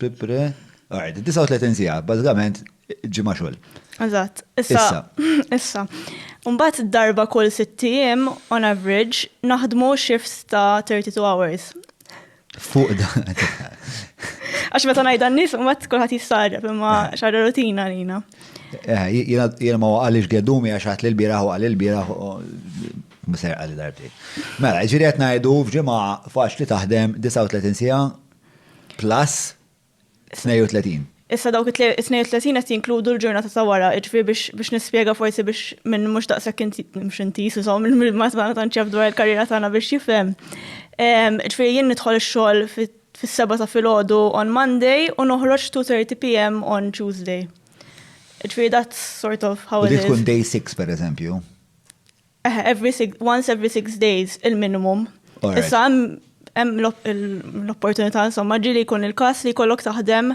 Pipre. Alright, 39 siegħa, bażikament ġimgħa xogħol. Eżatt. Issa. Issa. Mbagħad darba kull sitt ijiem on average naħdmu shifts ta' 32 hours. Fuq da. Għax meta ngħidha n-nies mbagħad kulħadd jistarreb imma eh. xara rutina għalina. Eh, jiena ma għaliex gedumi għax għat l-bieraħ u għal l-bieraħ Mser għalli darbti. Mela, ġiri għet najdu fġima faċ li taħdem 39 sija Plus 32. Issa dawk it-32 qed jinkludu l-ġurnata ta' wara, iġfri biex nispjega forsi biex minn mhux daqshekk mhux inti sużhom ma tagħna tant jaf dwar il-karriera tagħna biex jifhem. Iġfri jien nidħol ix-xogħol fis-seba' ta' filgħodu on Monday u noħroġ 2:30 PM on Tuesday. Iġfri that's sort of how it is. Tkun day 6 pereżempju. Eħe, every six, once every six days, il-minimum. Alright. Issa hemm hemm l-op- il- l-opportunità insomma ġili jkun il-każ li jkollok taħdem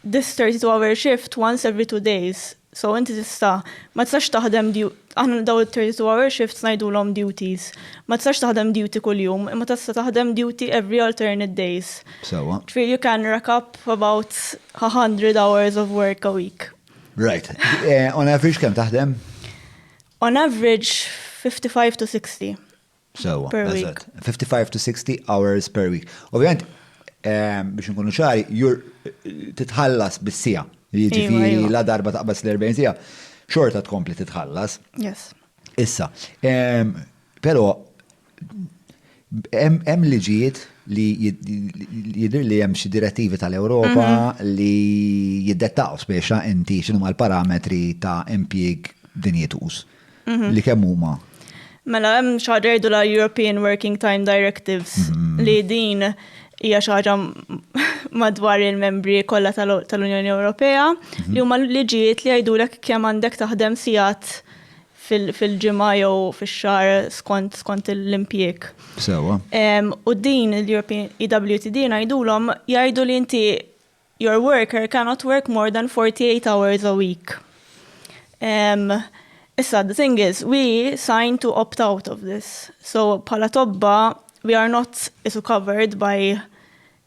this 32 hour shift once every two days. So inti tista' ma tistax taħdem du- aħna daw il-32 hour shifts ngħidulhom duties. Ma tistax taħdem duty kuljum, imma tista' taħdem duty every alternate days. Sewa. Ġifieri you can rack up about 100 hours of work a week. Right. Eh, On average kemm taħdem? On average 55 to 60. Sewa, eżatt. 55 to 60 hours per week. Ovvijament, ehm, biex nkunu ċari, jur titħallas bis-sija. Jiġifieri la darba taqbas l-40 sija, xorta tkompli titħallas. Yes. Issa, ehm, però Hemm liġijiet li jidhir li hemm xi direttivi tal-Ewropa mhm. li jiddettaw spiex inti x'inhu l-parametri ta' impjieg dinjituż mhm. li kemm huma. Mela hemm xi ħaġa jgħidu la European Working Time Directives mhm. li din hija xi ħaġa madwar il-membri kollha tal-Unjoni Ewropea li huma liġijiet li jgħidulek kemm għandek taħdem sigħat fil-ġimgħa jew fix-xahar skont l-impjieg. Sewwa. U din l-European EWTD ngħidulhom jgħidu li inti your worker cannot work more than 48 hours a week. Issa, the thing is, we sign to opt out of this. So, bħala tobba, we are not isu covered by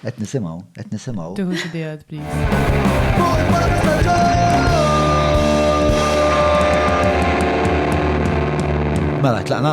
Qed nisimgħu, qed nisimgħu. Tieħu xi diet, please. Mela, tlaqna?